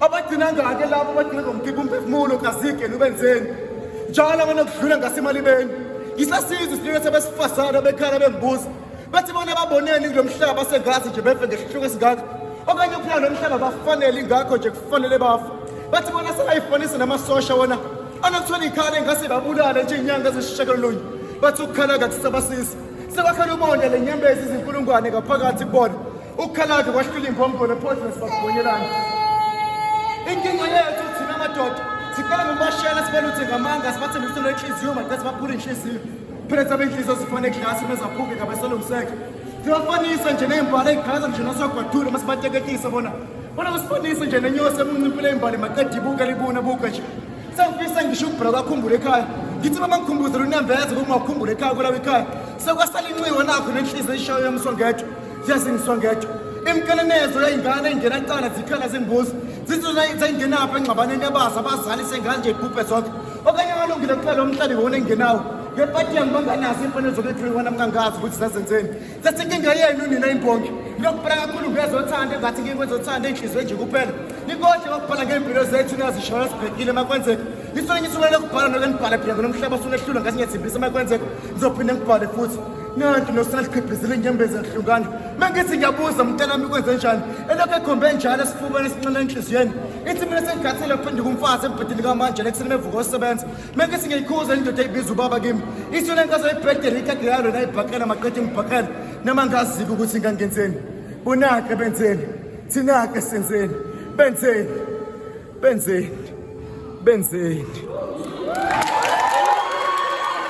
abagcina ngake labo abagcina ngomkhipha umphefumulo kazike nubenzeni njalo abona kudlula ngasemalibeni yisasizwe sinikethe besifazane bekhala bembuza bathi bona baboneni kulo mhlaba sengazi nje befe ngesihluko esingaka okanye ukuphila lo mhlaba bafanele ingakho nje kufanele bafa bathi bona sebayifanise namasosha wona anokuthola ikhala engase babulale nje inyanga ezisishakalolunye bathi ukukhala kakusabasisi sebakhona ubonda le nyembezi izinkulungwane ngaphakathi kubona Ukukhalade kwahlula imbongolo ephozini sibakubonyelana. Inkinga yethu thina amadoda sicela ngomashela sibaluthe ngamanga sibathembe ukuthi lenhliziyo maqe sibaphule inhliziyo. Phela sabe inhliziyo sifone eglasi mezaphuke ngabasolungiseke. Sibafanisa nje nembala egaza nje nasogwadule masibateketisa bona. Bona usifanise nje nenyosi emuncimpile imbali maqede ibuka libuna buka nje. Sengifisa ngisho ukubhra kwakhumbula ekhaya. Ngithi mama ngikhumbuzela unembeza ukungakhumbula ekhaya kulawa ekhaya. Sekwasala inxiwa nakho nenhliziyo eshayo yamsongethwa. ziyasingiswa ngedwa imkelenezo yayingane ingena cala zikhala zembuzi zizozayingenaphi engxabaneni yabazi abazali sengane nje ibhubhe zonke okanye akalungile kuphela umhlabi wona engenawo ngepati yami banganazo iimfanelo zokulethiwe kwana mngangazi ukuthi zazenzeni sesinkinga yenu nina imbongi lokubhala kakhulu ngezothanda engathi nkinga ezothanda enhliziyo nje kuphela nikodle kokubhala ngey'mpilo zethu niyazishona sibhekile makwenzeka nisole ngisukele lokubhala noke nibhale phela ngonomhlaba sulehlula ngathi ngiyathembisa makwenzeka ngizophinde ngibhale futhi nanti nosalihqebhizela inyembezi yahlukana mangithi ngiyabuza mntanami kwenze njani elokhu ekhombe njalo esifubeni esinxele enhliziyweni ithi mina sengikhathile kuphenduka umfazi embhedeni kamanje lekuseni mevuka osebenza mangithi ngiyikhuza indoda eyibiza ubaba kimi ithi le nkazo ebhedeni ikade yalo nayibhakela maqede ngibhakela nama ngaziki ukuthi ngangenzeni bonake benzeni thina-ke senzeni benzeni benzeni benzeni